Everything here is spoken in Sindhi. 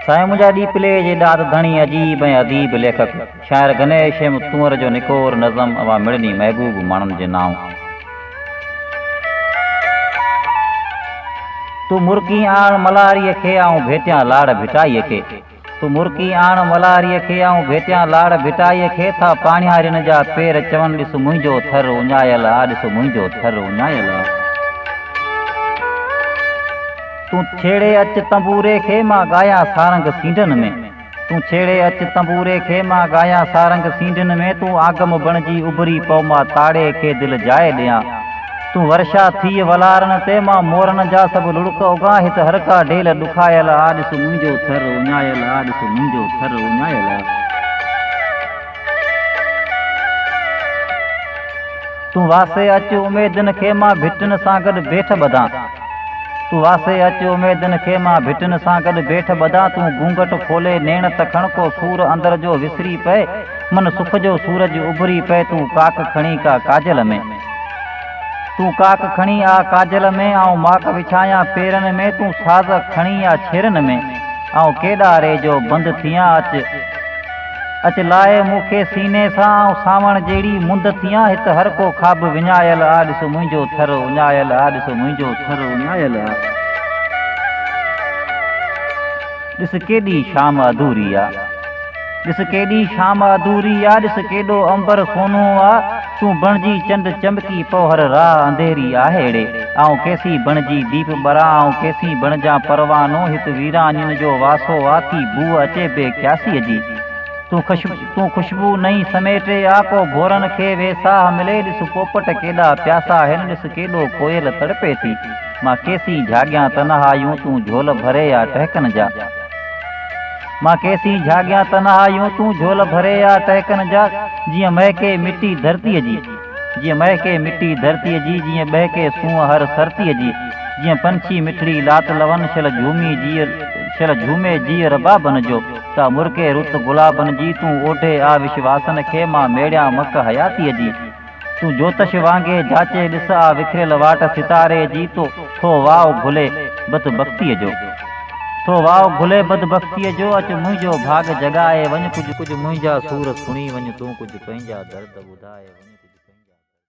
سائين منهنجا ڏي پلي جي ڏات ڌڻي عجيب ۽ اديب ليکڪ شاعر گنيش ايم تونئر جو نڪور نظم اوهان مڙني محبوب ماڻهن جي نانء تون مرڪين آڻ ملهاريء کي آئون ڀيٽيان لاڙ ڀٽائيء کي تو مرڪي آڻ ملهاريء کي، آئون ڀيٽيان لاڙ ڀٽائيء کي، ٿا پاڻهيارين جا پير چون، ڏس منهنجو ٿر اڃايل آ، ڏس منهنجو ٿر اڃايل آ. تون ڇيڙي اچ تنبوري کي، مان ڳايان سارنگ سينڍن ۾، تون ڇيڙي اچ تنبوري کي، مان ڳايان سارنگ سينڍن ۾، تون آگم بڻجي اڀري پئو، مان تاڙي کي دل جاء ڏيان. تون ورشا ٿيء ولارن تي مان مورن جا سڀ لڙڪ اگهان هت هر ڪا ڊيل ڏکايل آ ڏس منهنجو ٿر اڃايل آ ڏس منهنجو ٿر اڃايل آ تون واسي اچ اميدن کي مان ڀٽن سان گڏ بيٺ ٻڌان تون واسي اچ اميدن کي مان ڀٽن سان گڏ بيٺ ٻڌان تون گونگٽ کولي نيڻ ته کڻ ڪو سور اندر جو وسري پئي من سک جو سورج اڀري پئي تون ڪاڪ کڻي ڪا ڪاجل ۾. تون ڪاڪ کڻي آ ڪاجل ۾، آئون ماڪ وڇايان پيرن ۾، تون ساز کڻي آ ڇيرن ۾، آئون ڪيڏا ري جو بند ٿيان اچ اچ لاء مون کي سيني سان، آئون سانوڻ جهڙي مند ٿيان هت هر ڪو خواب وڃايل آ ڏس منهنجو ٿر اڃايل آ ڏس منهنجو ٿر اڃايل آ ڏس ڪيڏي شام اڌوري آ. ڏس ڪيڏي شام اڌوري آ، ڏس ڪيڏو عنبر سونهون آ، تون بڻجي چنڊ چمڪي پوهر راه انڌيري آ هيڙي، آئون ڪيسين بڻجي ديپ ٻران، آئون ڪيسين بڻجان پروانو، هت ويرانين جو واسو آ، ٿي بوء اچي بي قياسيء جي، تون تون خوشبو نئين سميٽي آ، ڪو ڀورن کي ويساهه ملي، ڏس پوپٽ ڪيڏا پياسا آهن، ڏس ڪيڏو ڪوئل تڙپي ٿي، مان ڪيسين جهاڳيان تنهايون، تون جهول ڀري آ ٽهڪن جا. مان ڪيسين جهاڳيان تنهايون تون جهول ڀري آ ٽهڪن جا جيئن مهڪي مٽي ڌرتيء جي جيئن مهڪي مٽي ڌرتيء جي جيئن ٻهڪي سونهن هر سرتيء جي جيئن پنڇي مٺڙي لات لون شل جهومي جيء شل جهومي جيء ربابن جو ته مرڪي رت گلابن جي تون اوڍي آ وشواسن کي مان ميڙيان مڪ حياتيء جي تون جوتش وانگي جاچي ڏس آ وکريل واٽ ستاري جي تو ٿو واء گهلي بد بختي جو ٿو واء گهلي بد بختي جو اچ منهنجو ڀاڳ جڳائي وڃ ڪجهه ڪجهه منهنجا سور سڻي وڃ تون ڪجهه پنهنجا درد ٻڌائي وڃ ڪجهه پنهنجا درد